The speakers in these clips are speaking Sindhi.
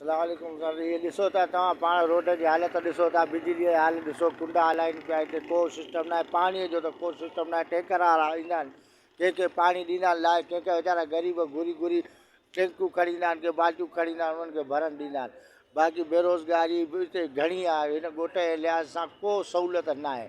سلام عليڪم سر هي ڏسو ته توهان پاڻ روڊ جي حالت ڏسو ٿا بجلي جي حال ڏسو ڪنڊا هلائين پيا هتي ڪو سسٽم ناهي پاڻي جو ته ڪو سسٽم ناهي ٽينڪر وارا ايندا آهن ڪنهن کي پاڻي ڏيندا آهن لائي ڪنهن کي ويچارا غريب گهري گهري ٽينڪون کڻي ايندا آهن ڪي بالٽيون کڻي ايندا آهن انهن کي ڀرڻ ڏيندا آهن باقي بيروزگاري به هتي گهڻي آهي هن ڳوٺ جي لحاظ سان ڪو سهولت ناهي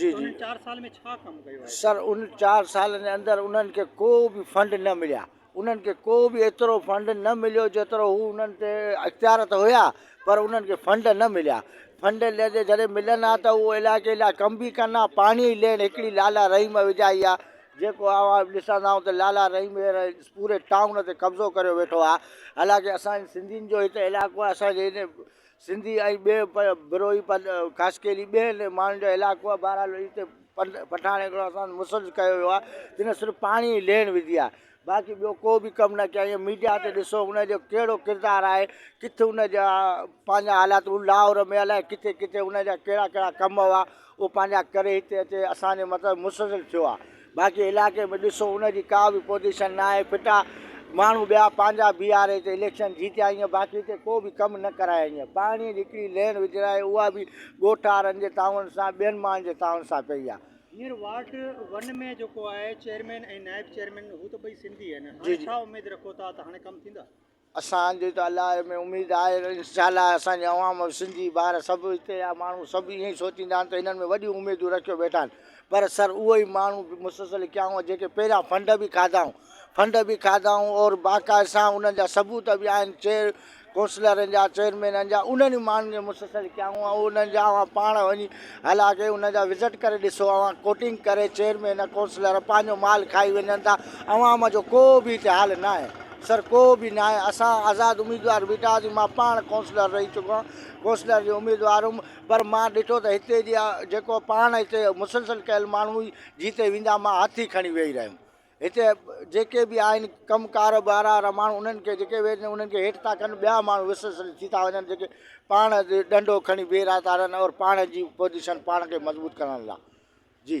جي جي سر ان چار سالن جي اندر انهن کي ڪو به فنڊ نه مليا انهن کي ڪو به ايترو فنڊ نه مليو جيترو هو انهن تي اختيار ته هيا پر انهن کي فنڊ نه مليا فنڊ لڏي جڏهن ملن ها ته اهو علائقي لاء ڪم به ڪن ها پاڻي لين هڪڙي لالا رحيم وجهائي ها جيڪو اوهان ڏسندا آهيون ته لالا رحيم هينئر پوري ٽائون تي قبضو ڪريو ويٺو آهي حالانڪه اسان سنڌين جو هتي علائقو آهي اسان جي سنڌي ۽ ٻئي بروهي پد خاصڪيلي ٻين ماڻهن جو علائقو آهي. بهرحال هتي پٺاڻ هڪڙو اسان تي مسلط ڪيو ويو آهي جنهن صرف پاڻي جي ليڻ وڌي آهي باقي ٻيو ڪو به ڪم نه ڪيائين ۽ ميڊيا تي ڏسو ان جو ڪهڙو ڪردار آهي ڪٿ ان جا پنهنجا حالات هو لاهور ۾ الائي ڪٿي ڪٿي ان جا ڪهڙا ڪهڙا ڪم هئا اهو پنهنجا ڪري هتي اچي اسان جي مطلب مسلسل ٿيو آهي باقي علائقي ۾ ڏسو ان جي ڪا به پوزيشن نه آهي ڦٽا ماڻهو ٻيا پنهنجا بيهاري هتي اليڪشن جيتيا ايئن باقي هتي ڪو به ڪم نه ڪرايا ايئن پاڻي جي هڪڙي لين وجهرائي اها به ڳوٺ وارن جي تعاون سان ٻين ماڻهن جي تعاون سان ڪئي آهي. هينئر وارڊ ون ۾ جيڪو آهي چيئرمين ۽ نائب چيئرمين هو ته ٻئي سنڌي آهن هاڻي ڇا اميد رکو ٿا ته هاڻي ڪم ٿيندا؟ اسان جي ته الله ۾ اميد آهي انشاءالله اسان جي عوام سنڌي ٻار سڀ هتي جا ماڻهو سڀ ائين ئي سوچيندا آهن ته هنن ۾ وڏيون اميدون رکيو ويٺا آهن پر سر اهي ئي ماڻهو مسلسل ڪيائون جيڪي پهريان فنڊ به کاڌائون فنڊ به کاڌائون اور باقاعده سان انهن جا ثبوت به آهن چيئر ڪونسلرن جا چيئرمينن جا انهن ئي ماڻهن جي مسلسل ڪيائون ۽ انهن جا اوهان پاڻ وڃي هل آگي ان جا وزٽ ڪري ڏسو اوهان ڪوٽنگ ڪري چيئرمين ڪونسلر پنهنجو مال کائي وڃن ٿا عوام جو ڪو به هتي حال ناهي سر ڪو به ناهي اسان آزاد اميدوار بيٺا هئاسين مان پاڻ ڪونسلر رهي چڪو آهيان ڪونسلر جو اميدوار هيم پر مان ڏٺو ته هتي جي جيڪو پاڻ هتي مسلسل ڪيل ماڻهو جيتي ويندا مان هٿ ئي کڻي ويهي رهيم هتي جيڪي به آهن ڪم ڪار وارا رماڻ انهن کي جيڪي ويهن انهن کي هيٺ ٿا ڪن ٻيا ماڻهو وسس ٿي ٿا وڃن جيڪي پاڻ ڏنڊو کڻي بيهه رهيا ٿا رهن اور پاڻ جي پوزيشن پاڻ کي مضبوط ڪرڻ لاء جي